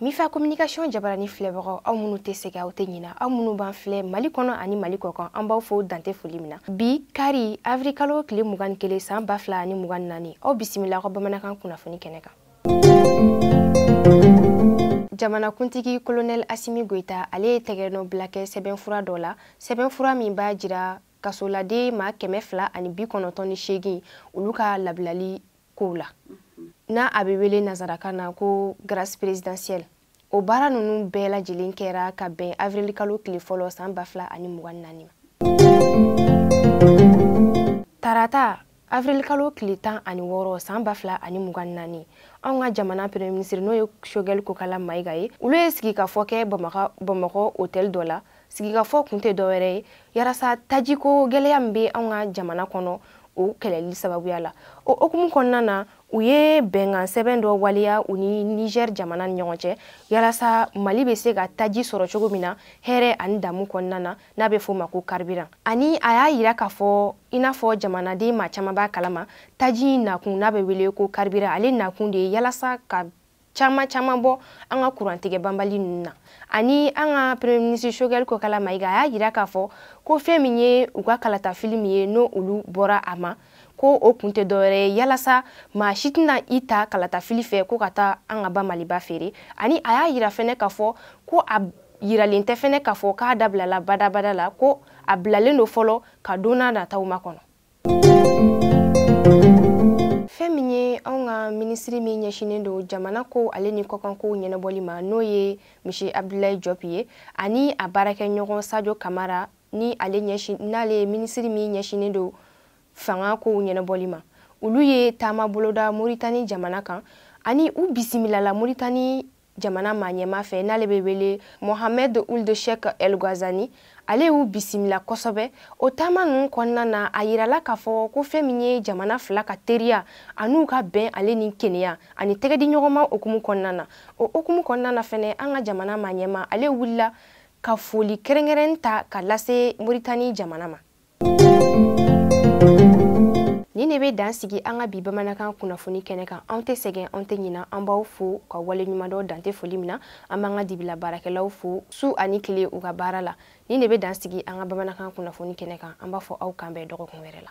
mifa communication jabarani filɛbagaw aw minnu tɛ sɛgɛn aw tɛ ɲina aw minnu b'an filɛ mali kɔnɔ ani mali kɔkan an b'aw fo dan tɛ foli min na bi kari avril kalo tile mugan ni kelen san ba fila ani mugan ni naani aw bisimila aw ka bamanankan kunnafoni kɛnɛ kan jamanakuntigi kolonɛl asimi goyita ale ye tɛgɛnɔ bila kɛ sɛbɛnfura dɔ la sɛbɛnfura min b'a jira kasoladen maa kɛmɛ fila ani bi kɔnɔntɔn ni seegin olu ka labilali kow la n'a a bɛ wele nazarakan na ko grâce présidentielle o baara ninnu bɛɛ lajɛlen kɛra ka bɛn avril kalo tile fɔlɔ san ba fila ani mugan ni naani ma tarata avril kalo tile tan ani wɔɔrɔ san ba fila ani mugan ni naani anw ka jamana premier ministre n'o ye shogɛl kokala mayiga ye olu ye sigikafɔ kɛ bamakɔ hôtel dɔ la sigikafɔ kun tɛ dɔwɛrɛ ye yalasa tajiko gɛlɛya min bɛ anw ka jamana kɔnɔ o kɛlɛli sababuya la o hukumu kɔnɔna na u ye bɛnkan sɛbɛn dɔ waleya u ni nizɛr jamana ni ɲɔgɔn cɛ yalasa mali bɛ se ka taji sɔrɔ cogo min na hɛrɛ ani damu kɔnɔna na n'a bɛ fɔ ma ko karibiran ani a y'a yira k'a fɔ i n'a fɔ jamanaden maa caman b'a kalama taji nakun n'a bɛ wele ko karibiran ale nakun de ye yalasa ka caman caman bɔ an ka kurantigɛ banbali ninnu na ani an ka premier ministre shogɛli kokala mayiga a y'a yira k'a fɔ ko fɛn min ye u ka kalatafili min ye n'o olu bɔra a ma ko o kun tɛ dɔwɛrɛ ye yalasa maa si tɛna i ta kalatafili fɛ ko ka taa an ka ba maliba feere ani a y'a yira fɛnɛ k'a fɔ ko a yiralen tɛ fɛnɛ k'a fɔ k'a dabilala badabada la ko a bilalen don fɔlɔ ka don na nataw makɔnɔ fɛn min ye anw ka minisiri min ɲɛsinnen don jamana kow ale ni kɔkankow ɲɛnabɔli ma n'o ye monsieur abdulayi jɔpi ye ani a baarakɛɲɔgɔn sajo kamara ni n'ale ye minisiri min ɲɛsinnen don fanga kow ɲɛnabɔli ma olu ye taama boloda moritani jamana kan ani u bisimilala moritani jamana maa ɲɛmaa fɛ n'ale bɛ wele mohamed ould cheikh el guazani ale y'u bisimila kosɛbɛ o taama ninnu kɔnɔna na a yirala k'a fɔ ko fɛn min ye jamana fila ka teriya an'u ka bɛn ale ni kɛnɛya ani tɛgɛdiɲɔgɔnma hukumu kɔnɔna na o hukumu kɔnɔna na fɛnɛ an ka jamana maa ɲɛmaa ale wulila ka foli kɛrɛnkɛrɛn ta ka lase moritani jamana ma Nin de bɛ dan sigi an ka bi bamanankan kunnafoni kɛnɛ kan anw tɛ sɛgɛn anw tɛ ɲina an b'aw fo k'aw waleɲumandɔn dan tɛ foli min na an b'an ka dibila baarakɛlaw fo su ani tile u ka baara la nin de bɛ dan sigi an ka bamanankan kunnafoni kɛnɛ kan an b'a fɔ aw k'an bɛn dɔgɔkun wɛrɛ la